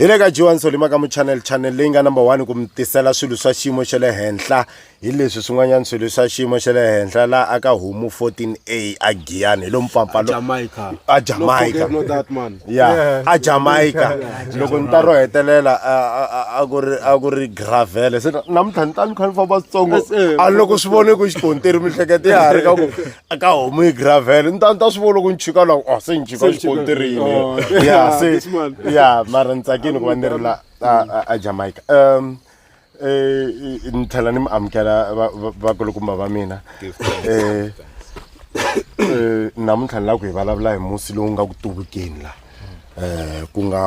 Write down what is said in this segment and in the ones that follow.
hi le ka johan solima ka muchannel channel leyi nga number one ku mi tisela swilo swa xiyimo xa le henhla hi leswi swin'wanyana swilo swa xiyimo xa le henhla la aka homu 14a a giyani hi lo mpfampfalo a jamaica ya a jamaica loko ni ta ro hetelela a ku ri a ku ri gravele se namuntlha ni ta ni kha ni famba switsongo a loko swi vone ku xikontiri mihlekete ya ha ri ka ku ka homu yi gravel ni ta ni ta swi vona loko ni chika la oh se ni chika Se ni chika, xikontirini oh, ya yeah, se this man. ya mara ni tsakile ku va ni ri la a- a- a jamaica um eh, ni tlhela ni mi amukela va- va- vakulukumba va mina Eh, eh, namuntlha ni lava ku hi vulavula hi musi lowu nga ku tuvukeni la um ku nga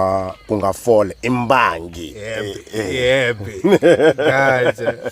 ku nga fole i mbangi Eh, eh. Yebe. Gotcha.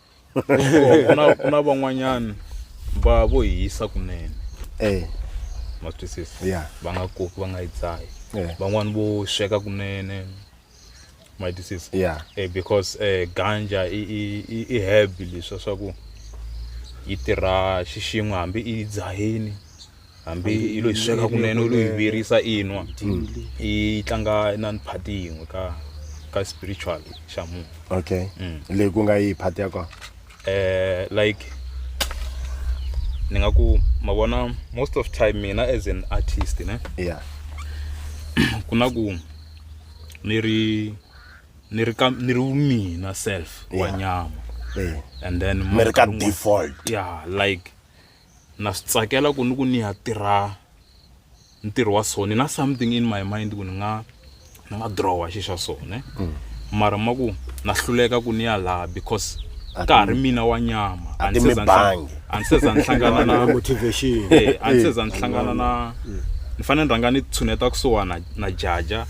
ku na ku na van'wanyana va vo hisa kunene eh ma swi twisisa Yeah. va nga koki va nga yi dzahi Yeah. van'wani vo sweka kunene ma yi twisisa Yeah. eh, because eh, ganja i, i, i, i herb leswa swa ku yi tirha xixin'we hambi i yi dzahini hambi yi lo yi sweka kunene u lo yi virisa i nwa yi tlanga na ni phati yin'we ka ka spiritual xa munhu okay mm. leyi ku nga yi phati ya kona eh like ni nga ku ma vona most of time mina as an artist ne yeah ku na ku ni ri ni ri ka ni ri mina self wa nyama eh. and then mi ri ka default yeah like na swi tsakela ku ni ku ni ya tirha ntirho wa so ni na something in my mind ku ni nga ni nga drawa xi xa so ne mm. mara ma ku na hluleka ku ni ya laha because ka ha ri mina wa nyama a ni se za ni hlangana na motivation eh, a ni se za ni hlangana na mm. ni fanele ni rhanga ni tshuneta kusuhana na jaja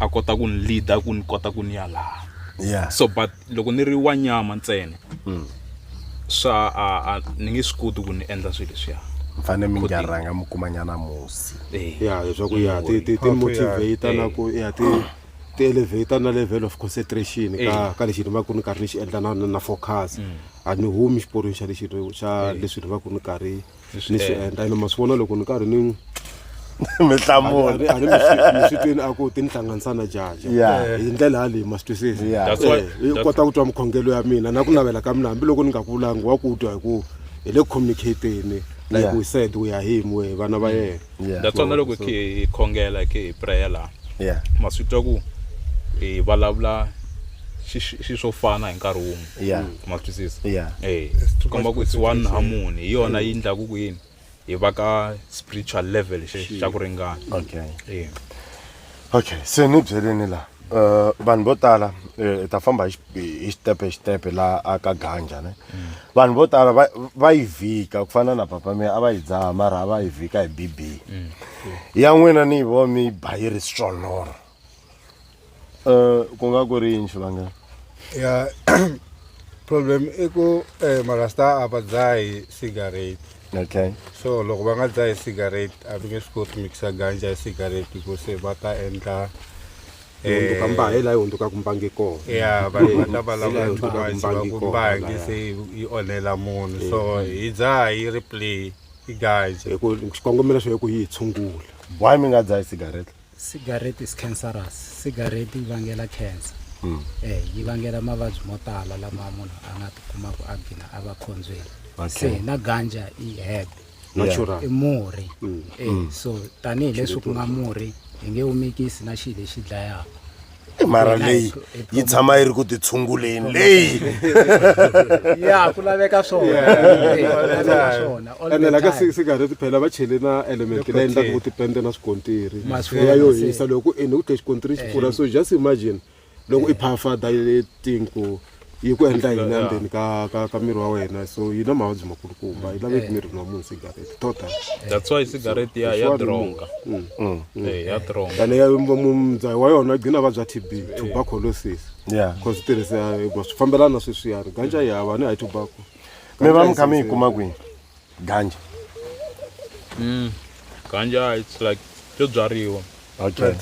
a kota ku ni leader ku ni kota ku ni ya laha yeah. so but loko ni ri wa nyama ntsena mm. swa a, a ni nge swi koti ku ni endla swilo leswiya mfane mi nga rhanga mi kuma nyana musi eh. ya leswaku ya ti ti ti motivate na ku ya ti ti elevator na level of concentration ka eh. ka lexi ni va ku ni karhi ni xi endla na na focus mm. a ni humi xiporweni xa lexi xa eh. leswi ni va ku ni karhi ni swi endla ene ma swi vona loko ni karhi ni n'wi mi hlamula a ri miswitweni a ku ti ni hlanganisa na jaji hi ndlela yaleyi ma swi twisisa i kota ku twa mukhongelo ya mina na ku navela ka mina hambiloko ni nga ku vulangi wa ku twa hi ku hi le communicateni like we said we are him we vana va yena Yeah. that's why na loko So- khe hi khongela khe hi prayer laha yeah ma swi twa ku hi vulavula xi- xi xi swo fana hi nkarhi wun'we Yeah. ma swi twisisa yeah Eh, It's too komba much ku it's one concentration. harmony hi yona yi ndlaku ku yini hi va ka spiritual level xe xa ku ringana okay Eh. okay se ni byeleni laha um vanhu vo tala eh, hi ta famba hi xi- hi xitepe hi xitepe laha a ka ganja ne vanhu vo tala va- va yi vhika ku fana na papa miya a va yi dzaha mara a va yi vhika hi bb ya n'wina ni yi vo mi yi ba yi ri swoloro um ku nga ku ri yini xivangelo ya problem i ku eh, marasta a va dzahi cigarette okay so loko va nga dzahi cigarette a va nge swi koti mixa ganja ya cigarette hikuva se va ta endla hundzuka mbahe laha yi hundzukaka mbangi kona ya vanhu va ta vulavula too much va ku mbangi se yi onhela munhu so hi dzaha yi ri play i ganja hi ku xikongomelo xo hi ku yi hi tshungula why mi nga dzahi cigarette Cigarettes cancerous cigarette yi vangela cancer mm. eh yi vangela mavabyi mo tala lama munhu a nga tikumaku a gina a va khondzweni se na ganja i herb i murhi mm. eh mm. so tanihileswi ku nga murhi hi nge wu mikisi na xilo lexi dlayaka mara leyi yi tshama yi ri ku titshunguleni leyi ya ku laveka swonaenelaka sigareti phela va chele na element leyi endlaka ku tipende na swikontiri ya yo hisa loko ku ene ku tlhe xikontiri xi pfula so just imagine loko i phafada tinku yi ku endla yini endzeni ka ka ka miri wa wena so yi na mavabyi makulukumba yi laveki mirini wa munhu sigareti tota that's why sigareti ya ya dronga mm. eh, ya dronga ene ya mundzayi wa yona gcina vabya t b tuberculosis ya cause tirhisa swi fambelana sweswiyani ganja yi hava ni high tobacco mi va mi kha mi yi kuma kwini ganja Mm. Ganja it's like byo byariwa. okay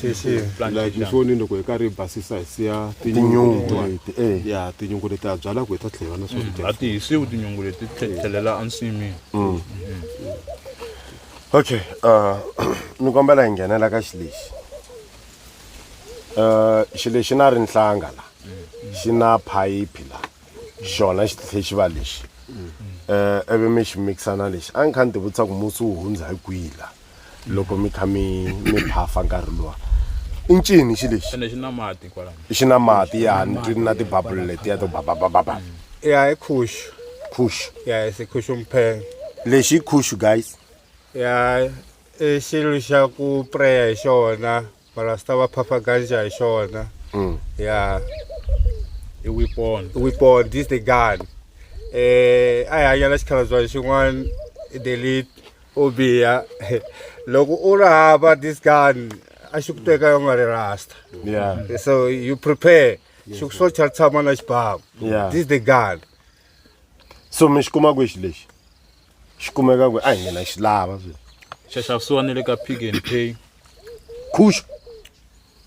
like ni foni loko hi karhi hi basisa hi siya Tinyungu. tinyungu eh ya tinyungu leti ha byalaka hi ta tlhela na swakudya A ti hisiwi tinyungu leti tlhe- tlhelela ensin'wini. okay uh ni kombela hi nghenela ka xilexi uh xilexi na ri nhlanga la xi na phayiphi la xona xifestival lexi um ivi mi xi mixa na lexi a ni kha ni ti vutisa ku musi wu hundza hi kwihi la loko mi kha mi mi phafa nkarhi luwa i ncini xi lexi ene xi na mati kwalano xi na mati ya ni twi na tibabulu letiya to bababababa ya hi khuxu khush ya hi sikhuxu mphenge lexi i khush guys ya i xilo xa ku preya hi xona Marasta va phapha ganja hi xona. Mm. Yeah. I weapon. Weapon, this the gun. Eh, a hi hanya na xikhalabya xin'wana delete u biha loko u ri hava this gun a xi ku teka u nga ri rasta Yeah. so you prepare xi ku swo cha tshama na xibamu Yeah. this the gun So mi xi kuma kwihi lexi? xi kumeka ku a hi mina xi lava swi xaxavisiwa ni le ka pick and pay khusha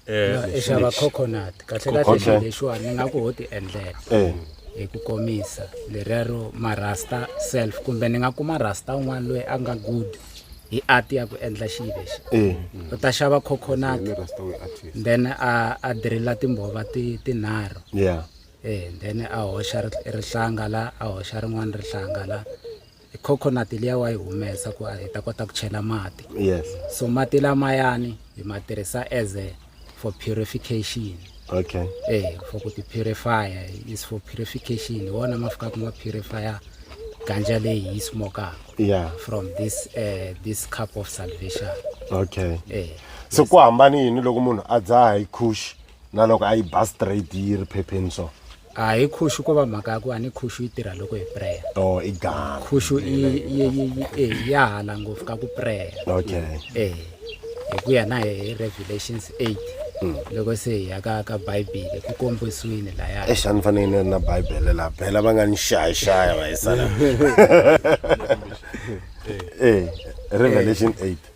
eh, i xava coconut kahle kahle lexiwa ni nga ku ho ti endlela eh. hi ku komisa lerero marasta self kumbe ni nga kuma rasta un'wana loyi a nga good hi art ya ku endla xilo lexi eh. u ta xava coconut then a a dirila timbhova tinharhu yeah and then a hoxa rihlanga la a hoxa rin'wana rihlanga la coconut liya wa yi humesa ku hi ta kota ku chela mati yes so mati lamayani hi ma tirhisa as a for purification okay eh for ku ti purifier is for purification hi wona ma fikaka ma purifier ganja leyi hi yi smokaka yeah from this uh, this cup of salvation okay eh so ku hambani yini loko munhu a dzaha hi khushi na loko a yi ba straight yi ri phepheni so a hi khushu ko va mhaka ya ku a ni khushu yi tirha loko hi prayer to i gala khushu yi- yi- yi- yi- eh, ya hala ngopfu ka ku prayer okay eh hi ku ya na hi hi revelations 8 Mm. loko se hi ya ka ka bibele ku kombisiwile laya exi a ni fanele ni ri na bibele laha bela va nga ni xayixaya va hi sala e revelation 8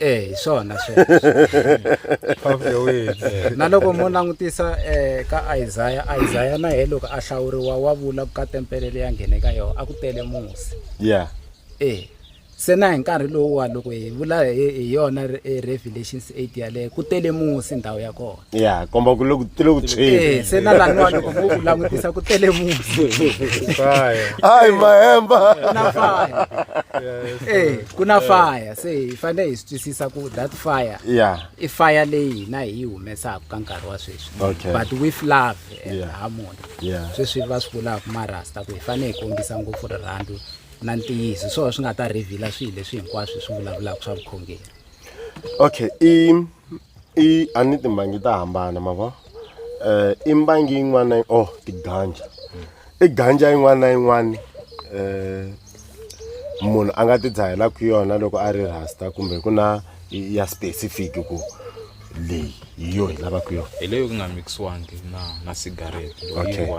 e hi swona sweswo na loko mo langutisa um ka isaya isaya na ye loko a hlawuriwa wa vula ku ka tempele leyi a nghene ka yona a ku tele musi ya e se na hi nkarhi lowuwa loko hi vula hi yona revelation eight yaleyo ku tele musi ndhawu ya kona ya komba ku loku tile ku tshweni eh, se na laniwa loko mo ku langutisa ku tele musi hayi mahemba eh, ku na fire se hi fanele hi swi twisisa ku that fire yeah. i fire leyi hina hi yi humesaka ka nkarhi wa sweswi okay. but with love and yeah. harmony yeah. sweswi va swi vulaka marasta ku hi fanele hi kombisa ngopfu rirhandzu na ntiyiso swona swi nga ta revhila swilo leswi hinkwaswo swi vulavulaka swa vukhongeri okay i I a ni timbangi ta hambana ma vo i mbangi yin'wana na oh tiganja i ganja yin'wana na yin'wana um munhu a nga ti dzahelaku yona loko a ri rasta kumbe ku na ya specific ku leyi hi yo hi lavaku yona hi leyo ku nga mixiwangi na na cigarette okay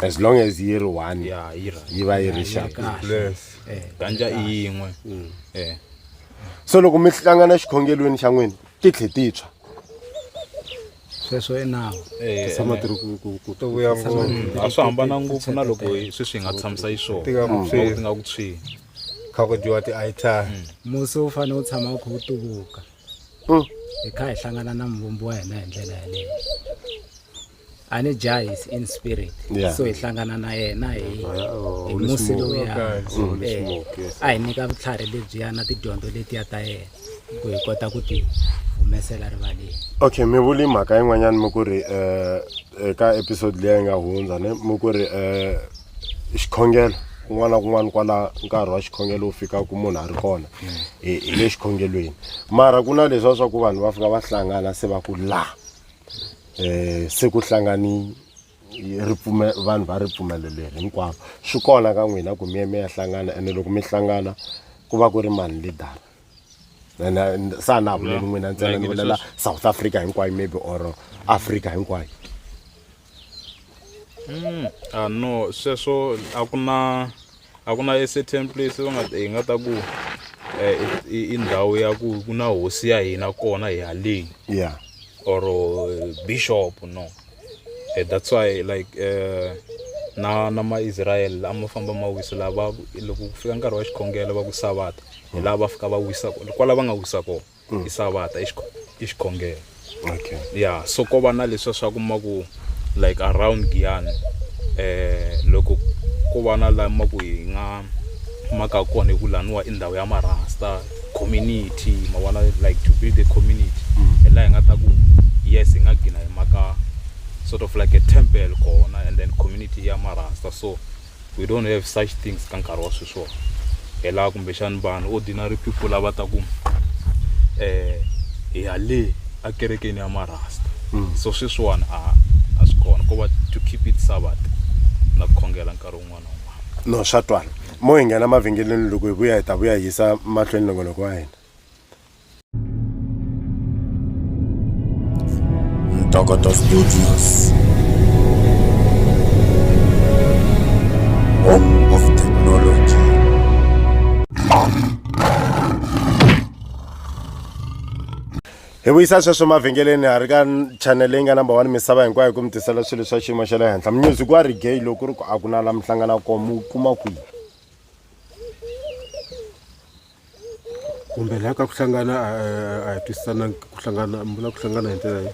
as long as yi ri one ya yi va yi ri xaka ganja i yin'we mm. eh so loko mi hlangana xikhongelweni xa n'wina ti tlhe ti tshwa sweswo i nawu Eh, tshama ti ri ku ku ku to vuya ngopfu a swi hambana ngopfu na loko hi- sweswi hi nga tshamisa yi swona Tika ku Loko tshwini. ti nga ku tshwini kha ku dyiwa ti-itar musi wu fanele wu tshama wu kha wu tuvuka Mm. hi kha hi hlangana na muvumbi wa hina hi ndlela yaleyo a ni jahi is in spirit Yeah. so hi hlangana na yena hi hi Holy musi smoke. lowuya Okay, so Holy Eh, smoke, yes. a hi nyika vutlhari lebyiya na tidyondzo letiya ta yena ku hi kota ku ti humesela rivaleni okay mi vuli mhaka yin'wanyana mi ku ri eh, eka episode leyi yi nga hundza ne mi ku ri eh, xikhongelo kun'wana na kun'wana kwala nkarhi wa xikhongelo wu fika ku munhu a ri kona hi hi le xikhongelweni mara ku na leswiwa swa ku vanhu va fika va hlangana se va ku la um se ku hlangani ripfume vanhu va ripfumelo leri hinkwavo swi kona ka n'wina ku miye mi ya hlangana ene loko mi hlangana ku va ku ri mani lidara ene sa na vuleli n'wina ntsena ni vulela south africa hinkwayo maybe or africa hinkwayo hmm, a ah, no sweswo a ku na a ku na a certain place va nga hi nga ta ku eh, i i ndhawu ya ku ku na hosi ya hina kona hi haleni ya or eh, bishop no Eh, that's why like eh, na na maisrael a ma famba ma wisa laha va loko ku fika nkarhi wa xikhongelo va ku savata hi laha va fika va wisa ko- kwala va nga wisa kona mm. i savata i xikhongelo okay yeah so ko va na leswa swa ku ma ku like around giyani eh loko ko va na la ma ku hi nga maka kona hi ku laniwa i ndhawu ya marasta community ma vona like to build a community mm. hi laha hi nga ta ku yes hi nga gina hi maka sort of like a temple kona and then community ya marasta so we don't have such things ka nkarhi wa sweswiwa hi laha kumbexani vanhu ordinary people lava ta ku um eh, hi ya le akerekeni ya marasta hmm. so sweswiwani a a swi kona ko va to keep it sabat na ku khongela nkarhi wun'wana wun'wana no swa twana mo hi nghena mavhengeleni loko hi vuya hi ta vuya hi yisa mahlweni nongonoko wa hina Ntokota Studios. Home of technology. hi vuyisa sweswo mavhengeleni ha ri ka channel leyi nga number one misava hinkwayo ku mi tisela swilo swa xiyimo xa le henhla music wa regay loko ku ri ku a ku na la mi hlangana kona mu kuma kwihi kumbe laha ka ku hlangana a a- a hi twisisanangi ku hlangana mi vula ku hlangana hi ndlela leyi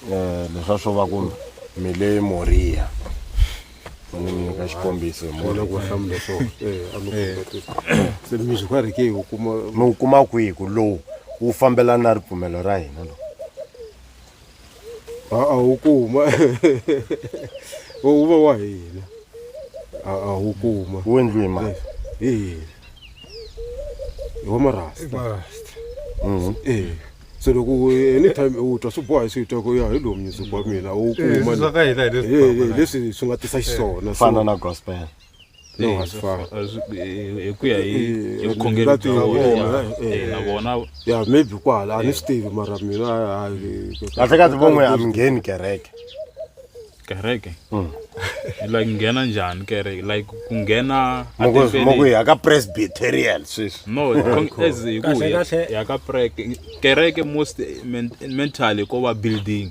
Eh, leswa swo va ku mi le moriya ni mi nyika xikombiso hi vona ku va Moriya. hlamula swona Eh, a mi khombatisa se mi swi karhi ke u kuma mi wu kuma kwihi ku lowu wu fambelana na ripfumelo ra hina lowu a-a wu kuma wu va wa hina a-a wu kuma wu endliwe hi mali hi hina hi wa marasta Mhm. e se loko u- anytime u twa swi boha swi twa ku ya hi lowu music wa mina wu kuma swa ka hina hi leswi Ye- ye, kwamana. leswi swi nga tisa xiswona so- fana na gospel no Eh, hasi fa- fa- as- eh, hi ku ya hi Eh, hi vukhongeri lapi bya ya vona vona, eh, eh, na vona ya maybe kwala a ni swi tivi mara mina hayi- kahlekahle van'we a mi ngheni kereke kereke like nghena njhani kereke like ku nghena etempeleni. mokuyi aka presbyterian sweswi no con- as hi ku Kahle, ya- kahle. ya ka preke kereke most men- mentally ko va building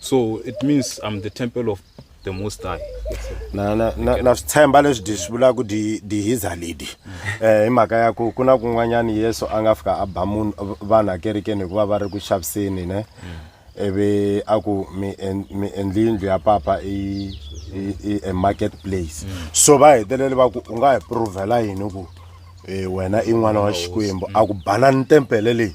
so it means i'm the temple of the most high na na na na swi tshemba leswi di swi vulaka di di hiza ledi eh hi mhaka ya ku ku na kun'wanyana yesu a nga fika a ba munhu vanhu akerekeni hikuva va ri ku xaviseni ne ivi a ku mi en- mi endli yindlu ya papa i i- i a market place so va hetelele va ku u nga hi provhela yini ku eh, wena i n'wana wa xikwembu a ku banani tempele leyi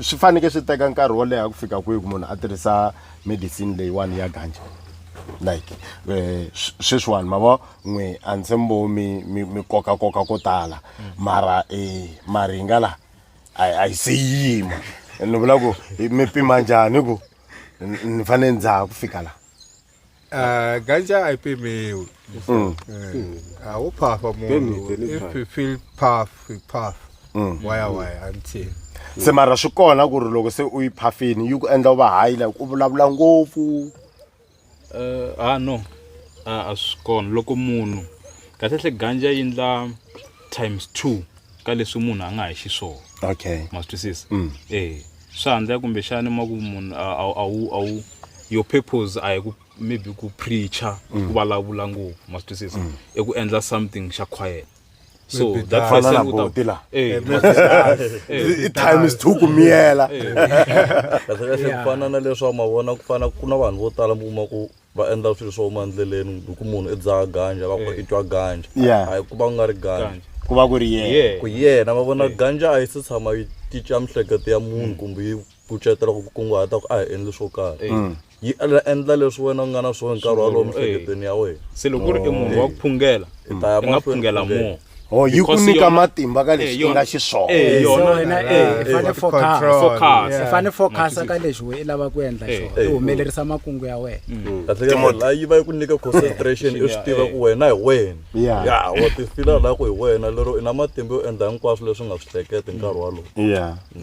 swi fanekele swi teka nkarhi wo leha ku fika kwihi ku munhu a tirhisa medicine leyiwani ya ganja like eh, sweswiwani ma vo n'we a ndzi mbo mi mi koka koka ko tala mara um maringa laha a yi se yima ni vula ku mi pima njhani ku ni fanele ndzaha ku fika laha Ah, ganja haipemewi Mm. awuphafa Benite, munhu if nitry. you feel puff you puff waya waya until se mara swi kona ku ri loko se u yi phafini yi ku endla u va hayi like u vulavula ngopfu Eh, ah no Ah, a swi kona loko munhu kahlekahle ganja yi endla times two ka leswi munhu a nga hi xiswona okay ma swi twisisa Mm. eh swa handza kumbexani ma ku munhu a- a- a wu- a wu your purpose a hi ku maybe ku preacher Mm. ku vulavula ngopfu ma swi twisisa i ku endla something xa quiet so Maybe that that- Fana person na u ta- buti la. Eh, ma swi twisisa. I time is two ku miyela. kahlekahle ku fana na leswi wa mavona ku fana ku na vanhu vo tala mi kuma ku va endla swilo swo huma endleleni hi ku munhu i dzaha ganja va ku i twa ganja Yeah. a hi ku va ku nga ri ganja Ganja. ku va ku ri yena Yeah. ku yena va vona ganja a yi se tshama yi cinca miehleketo ya munhu kumbe yi kucetela ku kunguhata ku a hi endli swo karhi yi endla- endla leswi wena u nga na swona nkarhi walowo mihleketweni ya wena se loko ku ri i munhu wa ku phungela i ta ya i nga mahlweni phungela phungela. more Oh, yi ku nyika matimba ka lexi eh, nga xiswona eh, wena eh, i fane focus i fane focus ka lexi we i lava ku endla xona i humelerisa makungu ya wena mm. mm. la yi va yi ku nyika concentration i swi tiva ku wena hi wena ya wa ti fila la ku hi wena lero i na matimba yo endla hinkwaswo leswi nga swi hleketi nkarhi walowo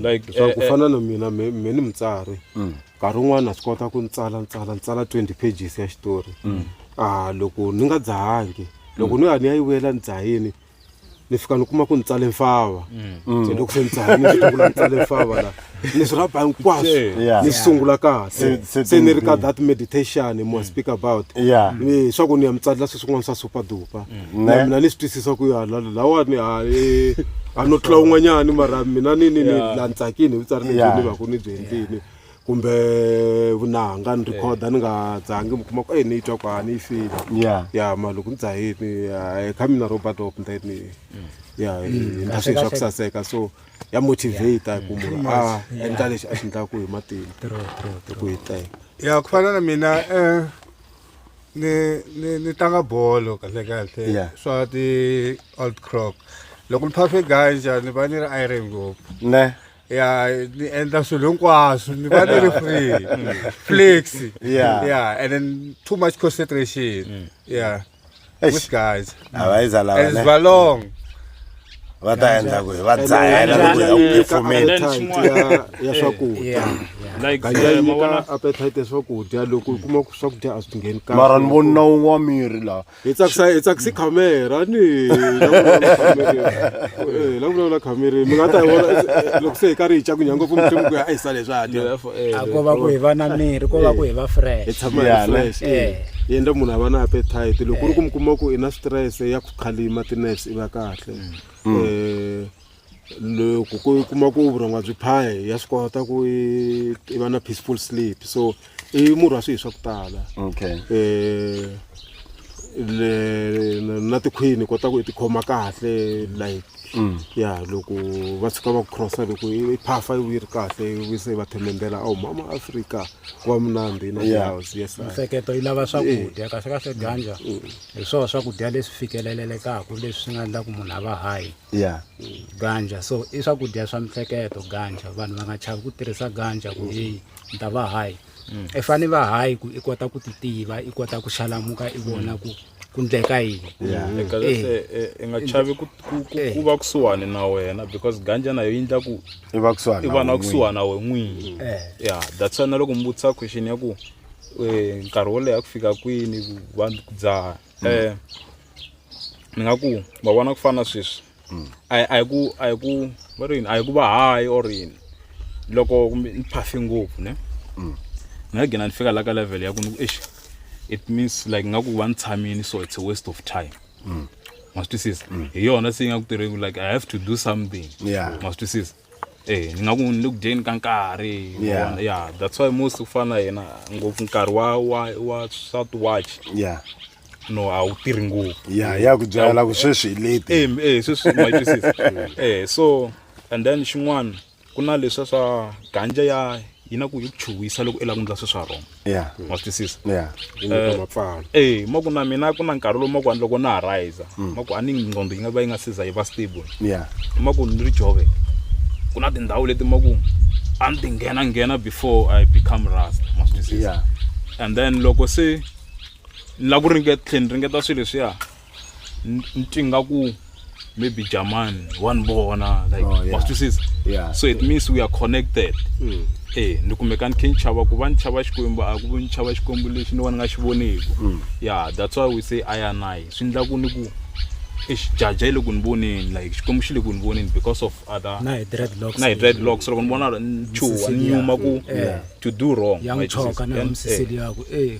like so ku fana na mina me ni mutsari mm. nkarhi wun'wana swi kota ku ntsala ntsala ntsala 20 pages ya xitori a ah, loko ni nga dzahangi loko ni ya ni ya yi vuyela ni dzahini ni fika ni kuma ku ni tsale mfava Mm. se loko se ni dzahini ni sungula ni tsale mfava la ni swi rhaba hinkwaswo Yeah. ni sungula kahle Se- se se ni ri ka tindzimi. that meditation Mm. mo speak about Yeah. Eh, swa ku ni ya mi tsalela sweswi kun'wana swa super dupa Mm. na Ne. mina ni swi twisisa ku ya la- lawani ha eh, a no tlula un'wanyani mara mina ni ni ni Yeah. la ni tsakini hi vutsari lebyi Yeah. ni va ku ni byi endlini kumbe vunanga ni rhikhoda ni nga dzangi mi kuma ku eyi ni yi twa ku a ni yi fili ya ya ma loko ni dzahini hi kha mina robert op then ya ni ta swilo swa ku saseka so ya motivate ku munhu a endla lexi a xi endlaku hi matimba hi ku hiteka ya ku fana na mina um ni ni ni tlanga bolo kahle kahle Yeah. swa ti-old crock loko ni phase ganja ni va ni ri iron ngopfu ne ya ni endla swilo hinkwaswo ni va ni ri free flex Yeah. yeah and then too much concentration yeah Eish. with guys a va yiza lava and ne va long va ta endla ku hi va dzahela loko hi ya ku phefumeni Then appetite ya- ya swakudya yeah like ganja eh, yi mavona nyika appetite ya swakudya loko u kuma ku swakudya a swi ngheni kahle mara ni vona wun'we wa miri lawa hi tsakisa hi tsakisi khamera ni la vulavula khamera mi nga ta yi vona loko se hi karhi hi cakunya ngopfu muthe ku ya a hi sale swa dya a ko va ku hi va na miri ko va ku hi va fresh hi tshama hi fresh yi endla munhu a va na appetite loko ku ri ku mi kuma ku i na stress ya ku khalima tinurse i va kahle um loko ku kuma ku vurhonga byi phaya ya swi kota ku i va na peaceful sleep so i murhi wa swihi swa ku tala okay um le na tikhwini kota ku i tikhoma kahle like mm. ya loko va tshuka va ku crossa loko i phafa yi vuyi ri kahle yi se va themendela awu oh, mama afrika ku va munandhi na house yes mihleketo yi lava swakudya eh. kahle kahle ganja mm. hi swona swakudya leswi fikelelelekaka leswi swi nga endla ku munhu a va hayi ya ganja so i swakudya swa mihleketo ganja vanhu va nga chavi ku tirhisa ganja ku heyi ni ta va hayi mm. i fane va hayi ku i kota ku ti tiva i kota ku xalamuka i vona ku ku ndleka yini mm. eh. eh, eh, i nga chavi ku va kusuhani na wena because ganja nayo yi ndla ku i va kusuhani i va na kusuhani na we n'wini ya that's why na loko mi vutisa question ya ku nkarhi wo leha ku fika kwini vanhu ku dzaha eh ni nga ku va vona ku fana sweswi a hi- a hi ku a hi ku va ri yini a hi ku va hayi or yini loko kumbe ni phafe ngopfu ne ni nga gina ni fika la ka level ya ku ni ku exi it means like nga ku va ni tshamini so it's a waste of time ma swi twisisa hi yona se yi nga ku tirheni like i have to do something Yeah. ma swi twisisa Eh, ni nga ku ni le ku dyeni ka nkarhi ma Yeah. vona? yeah that's why most ku fana na yena ngopfu nkarhi wa wa wa swa ti-watch ya no a wu tirhi ngopfu ya ya ku byala ku sweswi hi leti Eh, m- eh, sweswi ma yi twisisa eh so and then xin'wana ku na leswa swa ganja ya yi na ku yi ku chuhisa loko i lava ku endla swi swa wrong ya wa swi twisisa ya Yi nyika Eh, mapfalo. eh ma ku na mina ku na nkarhi lowu ma ku ani loko na ha rhayisa Mm. ma ku a ni nqondo yi nga va yi nga siza yi va stable ya ma ku ni ri jove ku na tindhawu leti ma ku a ni ti nghena nghena before i become rasta ma swi twisisa and then loko se ni la ku ringeta tlhela ni ringeta swilo leswiya ni thinga ku maybe jamani wa ni vona like oh, wa swi twisisa so it means we are connected mm. e ni kumeka ni khe ni chava ku va ni chava xikwembu a ku ni chava xikwembu lexi ni va ni nga xi voniku mm. ya that's why we say ianayi swi endla ku ni ku exijaja yi le ku ni voneni like xikwembu xi le ku ni voneni because of other na hi dread locks na hi dread locks loko ni vona ni chuha ni nyuma ku to do wrong ya n'wi choka na misiseli yakwe e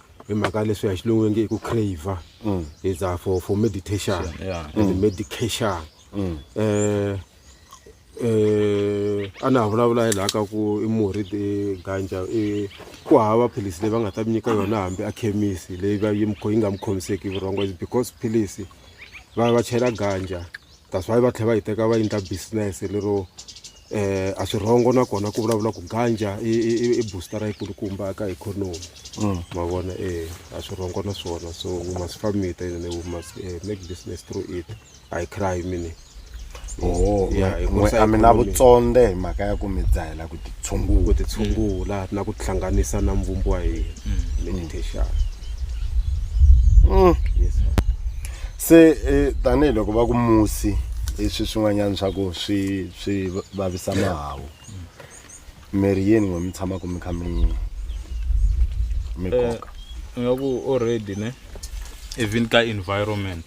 hi mhaka ya leswi ya xilungu nge i ku crave mm. is uh, for, for meditation yeah. and mm. medication mm. eh, eh, a na ha vulavula hi laha ka ku i murhi ganja i ku hava philisi leyi va nga ta mi nyika yona hambi a khemisi leyi va yi yi nga mi khomiseki vurhongo because philisi va va chela ganja that's why va tlhela va yi teka va endla business lero eh a swirhongo nakona ku vulavula ku ganja i i- i- i booster yi kulukumba eka economy ma vona eh a swirhongo na swona so we must farm it and we must eh, make business through it i cry mini Oh, Yeah, mwe- hikuva mwe- a mi na economy- vutsonde hi mhaka ya ku mi dzahela ku titshungula ku titshungula na ku tihlanganisa na mvumbo wa hina meditation Mm. yes sir. se eh, tanihiloko va ku musi i swi swin'wanyana swa ku swi swi vavisa mahawu miri yini n'we mi tshamaka mi kha mi mi Eh, koka nga ku already ne even ka environment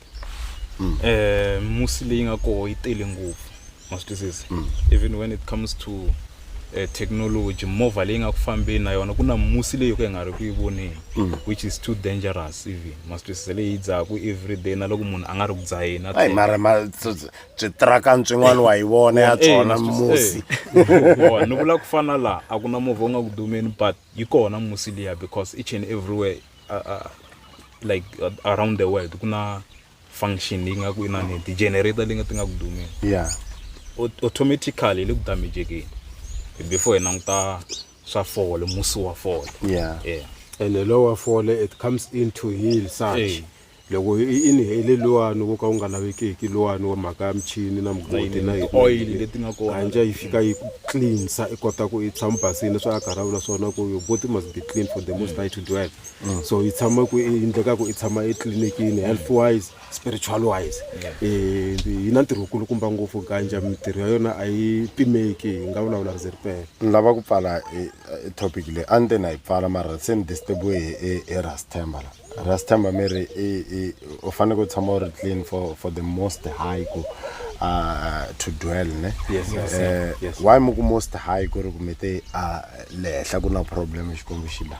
um musi leyi nga koho yi tele ngopfu ma swi twisisa mm. even when it comes to uh, technology movha leyi nga ku fambeni na yona ku na musi leyi yo ka yi nga ri ku yi voneni mm. which is too dangerous even ma swi twisisa leyi yi dzahaku every day na loko munhu a nga ri ku dzaheni ayi mara ma switrakani swin'wana wa yi vona ya tsona musi ni vula ku fana laha a ku na movha u nga ku dumeni but yi kona musi liya because each and everywhere uh, uh, like uh, around the world ku na function leyi nga ku inani ti-generator leyi nga ti nga ku dumeni ya automatically yi le ku damejekeni before hi languta swa fole musi wa fole ya yeah and the lower fall it comes into heel such hey. loko i inhale luwani wo ka wu nga lavekeki luwani wa mhaka ya michini na mugodi na hikanja yi fika yi cleansa i kota ku i tshama basini swa a karhi a vula swona ku your body must be clean for the most high to dwell mm. so yi tshama ku yi endleka ku i tshama etliliniki health wise spiritual wise eh, yi na ntirho wukulukumba ngopfu ganja mintirho ya yona a yi pimeki hi nga vulavula ri ze ri pela ni lava ku pfala eh, eh, topic leyi a ni te na yi pfala mara se ni disturbiwe hi rastemba la rastemba mi ri u faneke u tshama u ri clean for for the most high ku ah, to dwell ne why mi ku most high ku ri kumete ah, le henhla ku na problem xikwembu xi la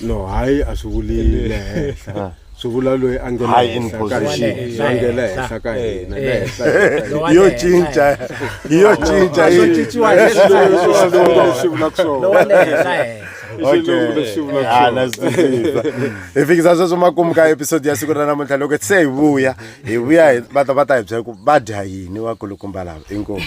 no hayi a swi vuli le henhla ah. swi vula loyi a ngela henhla ka hina a ngela henhla ka hina le henhla yo cinca yo cinca yo cinciwa hi leswi vula ku swona hi fikisa sweswo makumu ka episode ya siku ra namuntlha loko se hi vuya hi vuya va ta va ta hi byela ku va dya yini vakulukumba lava inkomu